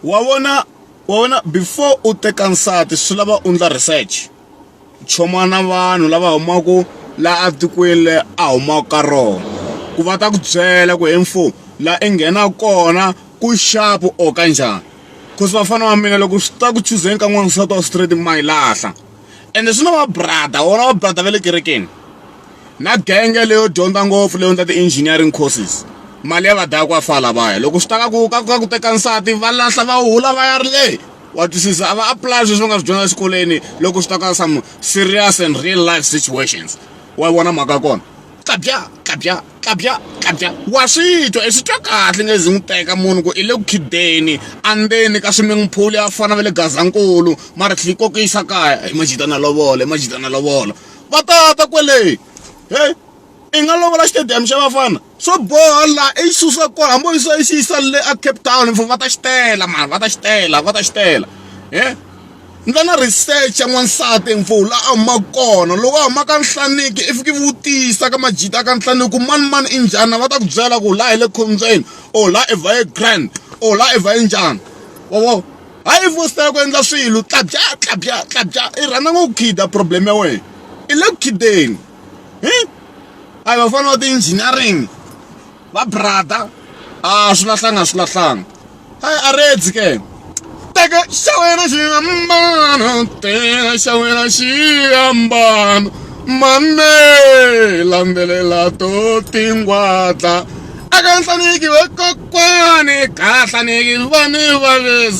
wa vona wa vona before u teka nsati swi lava u endla research choma na vanhu lava humaka la etikweni le a humaka ka rona ku va ta ku byela ku info la i nghena kona ku xapu or ka njhani cause vafana va mina loko swi ta ku chuzeni ka n'wansati wa straight ma yi lahla. ende swi na va brother wona va brother va le kerekeni na genge leyo dyondza ngopfu leyo ndla ti-engineering courses mali ya va daya ku afa lavaya loko swi ta ka ku ka ku teka nsati va lahla va hula va ya ri leyi wa twisisa a va apply sweswi va nga swi dyondza exikolweni loko swi ta ka some serious and real life situations wa vona mhaka ya kona kabya kabya kabya kabya wa swi twa i swi twa kahle nge zi n'wi teka munhu ku i le ku khideni andzeni ka swimming pool ya fana va le gazankulu mara tlhela yi kokisa kaya i majita na lovola i majita na lovola va tata kwele he i nga lovola xitediyamu xa vafana swo boha la i susa kona hambi u yisa i xi yisa le a cape town va ta xi tela mara va ta xi tela va ta xi tela he Ndza na research ya n'wansati emfuwo laha a humaka kona loko a huma ka Nhlaniki i fiki i vutisa ka majita ya ka Nhlaniki ku manimani i njhani va ta ku byela ku laha hi le khombyeni or laha Evair grand or laha Evair njhani wa vo hayi i fositela ku endla swilo tlabya tlabya tlabya i rhandza ngopfu ku khida problem ya wena i le ku khideni a hi vafana va ti-engineering. va brother a swi lahlanga a swi lahlanga hayi a redzi ke teka xa wena xiambano teka xa wena xiambano mame landzelela to tingwadla aka nhlaniki vakokwani ka nhlaniki vani vavezi